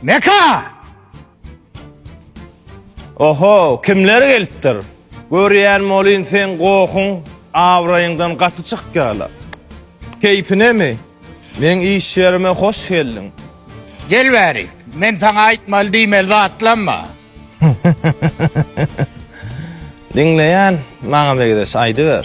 Meka! Oho, kimler gelipdir? Görýän molin sen gohun, awraýyňdan gaty çykýarlar. Keýpinemi? Men iş ýerime hoş geldiň. Gel bäri, men saňa aýtmaly diýmeli zatlamma. Diňleýän, maňa megideş aýdyber.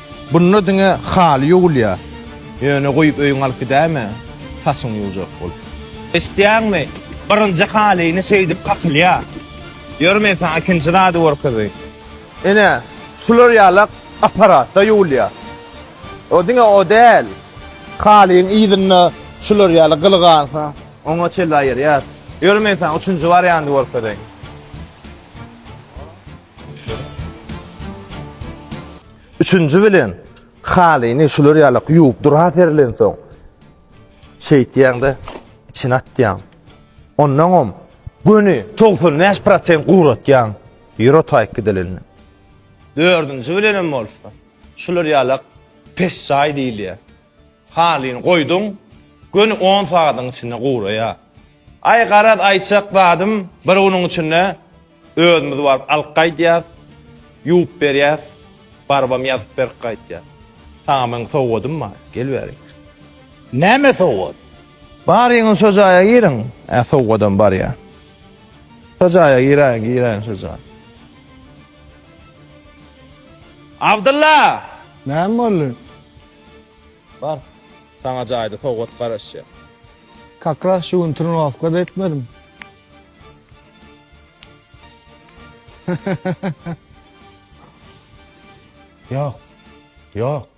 Bunda diňe haly ýuwulýar. Ýöne guýup öýüňe alyp gidäýme, saçyňy ýuwjak bolup. Eşitýäňmi, birinji halyny şeýdip kakylýar. Ýör men saňa ikinji zady görkezeýin. Ine, şular ýaly apparatda ýuwulýar. O diňe o däl. Halyň yzynda şular ýaly gyly galsa, oňa çenli aýyrýar. Ýör men saňa üçünji wariandy görkezeýin. Üçünji bilen, halyny şular ýaly ýuwup dura serlensoň, şeýtýäň-de, içine atýaň. Onnoňam göni togsan bäş prosent guratýaň, ýer otaýyk gidilende. Dördünji bilenem bolsa, şular ýaly pesjaý diýilýär. Halyny goýduň, göni on sagadyň içinde guraýar. Aý, garaz, aýtjak zadym, bir günüň içinde Özümiz baryp alyp gaýdýas, ýuwup berýäs, barybam ýazyp berip gaýtýas. Saňa meň sowgadym bar, gel bärik. Näme sowgat? Baryň şo jaýa giriň. Ä sowgadam barýa. Şo jaýa giräýiň, giräýiň şo jaýa. Abdylla! Näme boldy? Bar, saňa jaýda sowgat garaşýar. Kakras şu gün trenowatka-da etmedim. Ýok. Ýok.